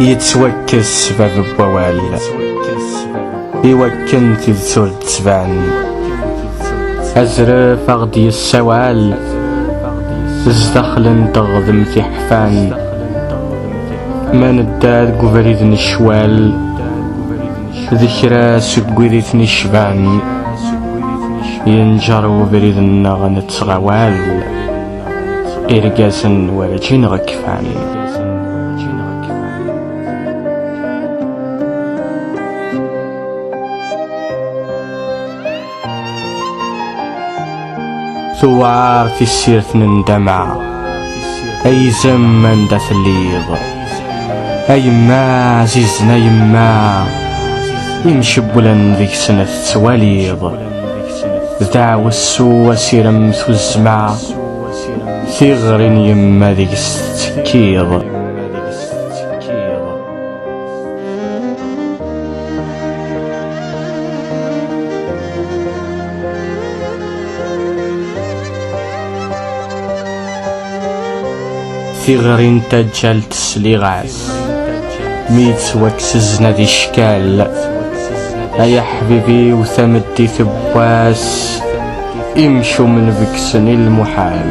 yettwakkes bab n wawal iwakken tidet ur d-tban azref aɣ d-yessawal zdaxel n teɣdemt iḥfan Ma nedda deg ubrid n ccwal d kra seg wid i ten-icban yenǧer ubrid-nneɣ nettɣawal irgazen werǧin ɣekfan Tuwar tissirt n ndama Ay izem anda telliḍ A yemma azizen a yemma Imcewwlen deg-sen tettwaliḍ D aɛwessu asirem tuzzma Tiɣri n yemma deg-s tettekkiḍ tiɣri n taǧǧalt sliɣ-as mi yettwakkes-zna di ccal ay aḥbibi-w tameddit n wass imcumen bekksen i lmuḥal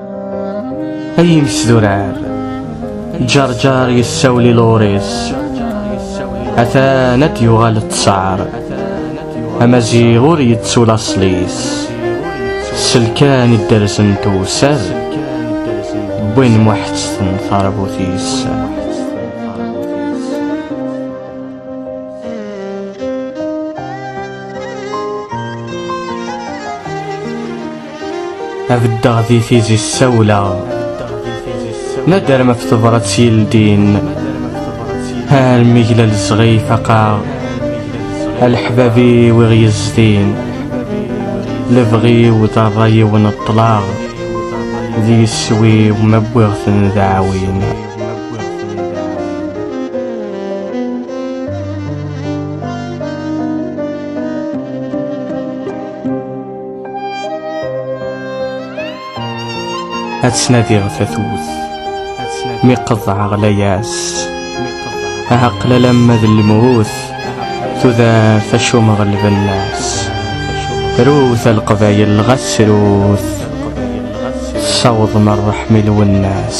Ay iles d urar Ǧerǧer yessawel i Luris Atan ad d-yuɣal ttṣar Amaziɣ ur yettu laṣel-is Selkan idderzen tewser Wwin muḥetteten tarbut-is A beddeɣ di tizi ssawleɣ Nader ma ftebrat s yeldin Hal miglal zɣi faqaɣ Alḥbabi wiɣ yezdin Lebɣi u d rrayi u neṭṭlaɣ Di yeswi u ma wwiɣ-ten d aɛwin ad tnadiɣ tatut mi qeḍɛeɣ layas ɛaqel alamma d lmut tudaf acummeɣ lbennas rut a lqbayel ɣas rut tessawḍem rreḥm i lwennas